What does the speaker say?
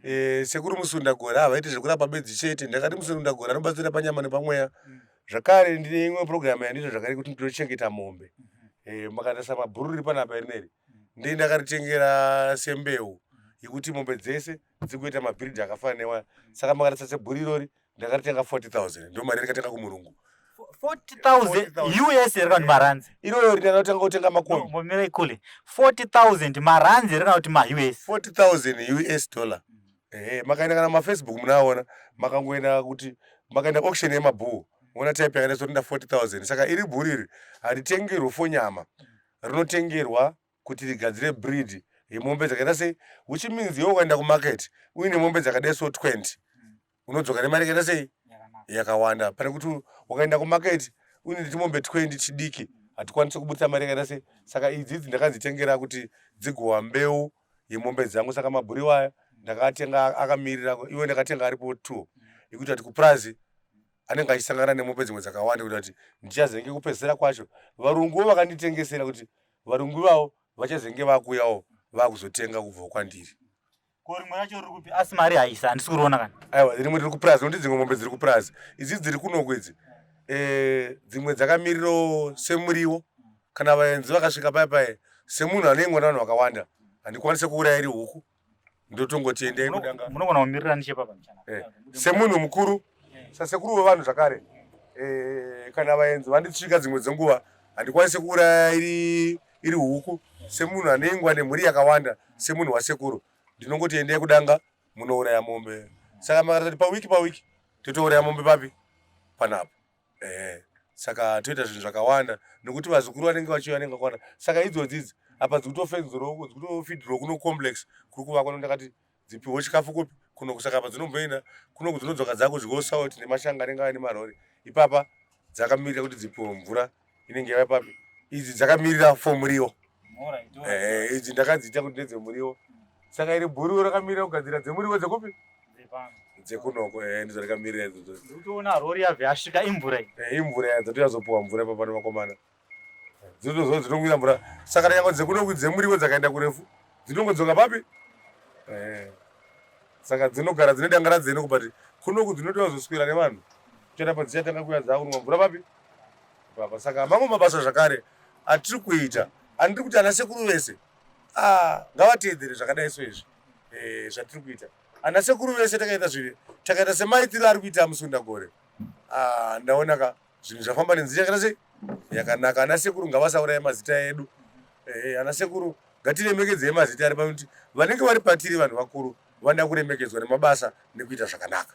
Eh, sekuru musundagora havaiti zvekurapa bedzi chete ndakati musundagora anobatsira panyama nepamweya mm. zvakare ndine imwe program yandiita zvakare kuti ndinochengeta mombe mm-hmm. eh, makatarisa mabhuru riri panapa rineri mm. ndii ndakaritengera sembeu mm. yekuti mombe dzese dzikuita mabhiridhi akafanana newaya saka makatarisa sebhuru irori ndakatenga 40000 ndo mari yandikatanga kumurungu 40000 us here kana kuti maranzi iroyo rina ndakatanga kutenga makombi mbomira ikule 40000 maranzi here kana kuti ma us 40000 us dollar ehe makaenda kana mafacebook munaona makangoenda kuti makaenda auction yemabhuu ona type yakaita sorinda 40000 saka iri bhuu riri haritengerwe fonyama rinotengerwa kuti rigadzire breed yemombe dzakaita sei which means iwe ukaenda kumarket uine mombe dzakadai so 20 unodzoka nemari yakaita sei yakawanda pane kuti ukaenda kumaketi une netimombe twendi chidiki hatikwanise kubudisa mari yakaita sei saka idzi idzi ndakadzitengera kuti dzigowa mbeu yemombe dzangu saka mabhuriwa aya ndakatenga akamirira iwe ndakatenga aripo two ekuti ati kupurazi anenge achisangana nemombe dzimwe dzakawanda kuti ati ndichazenge kupedzisira kwacho varungu vo vakanditengesera kuti varungu ivavo vachazenge vakuyawo vakuzotenga kubvawo kwandiri ko rimwe racho riri kupi asi mari haisa handisi kuriona kana aiwa rimwe riri kupurazi nokuti dzimwe mombe dziri kupurazi idzi dziri kunoko idzi eh, dzimwe dzakamiriro semuriwo kana vaenzi vakasvika paya paya semunhu ane mwana vanhu vakawanda handikwanise kuuraya iri huku ndotongotiendei kudanga munogona kumirira nechepapa eh, semunhu mukuru sasekuru vevanhu zvakare e, kana vaenzi vanditsvika dzimwe dzenguva handikwanise kuuraya iri, iri huku semunhu ane ingwa nemhuri yakawanda semunhu wasekuru ndinongoti endai kudanga munouraya mombe saka makatati pawiki pawiki totouraya mombe papi panapo e, saka toita zvinhu zvakawanda nokuti vazukuru vanenge vachiuya vanenge vakwana saka idzodzidzi apa dzikutofendzirwa uko dzikutofidhirwa kuno complex kuri kuvakwa nondakati Dzipiwo chikafu kupi? Kuno kusaka apa dzinomboenda kuno kudzinodzoka dzakudyiwo salt nemashanga anenge ava nemarori. Ipapa dzakamirira kuti dzipiwo mvura inenge yava papi? Idzi dzakamirira for muriwo. Eh, idzi ndakadziita kuti ndedzemuriwo. Saka iri bhuru rakamirira kugadzira dzemuriwo dzekupi? dzekunoko eh, ndidzo rakamirira idzodzo. Utoona rori yabve yasvika imvura iyi. Eh, imvura yadzatouya zopuwa mvura ipapa nevakomana. Dzinozozo dzinongoita mvura. Saka nyanga dzekuno kudzemuriwo dzakaenda kurefu. Dzinongodzoka papi? Eh. Saka dzinogara dzine dangara dzene kubati kuno kudzinotoa zoswera nevanhu. Kuchera padziya tanga kuya dzawo kunwa mvura papi? Baba saka mamwe mabasa zvakare atiri kuita. Andiri kuti ana sekuru vese. Ah, ngavateedzere zvakadai so izvi. Eh, zvatiri kuita. Ana sekuru vese takaita zviri. Takaita semaitiro ari kuita musunda gore. Ah, ndaona ka. zvinhu zvafamba nenzira yakaita sei yakanaka ana sekuru ngavasauraye mazita edu eh, ana sekuru ngatiremekedzei mazita ari pakuti vanenge vari patiri vanhu vakuru vanoda kuremekedzwa nemabasa nekuita zvakanaka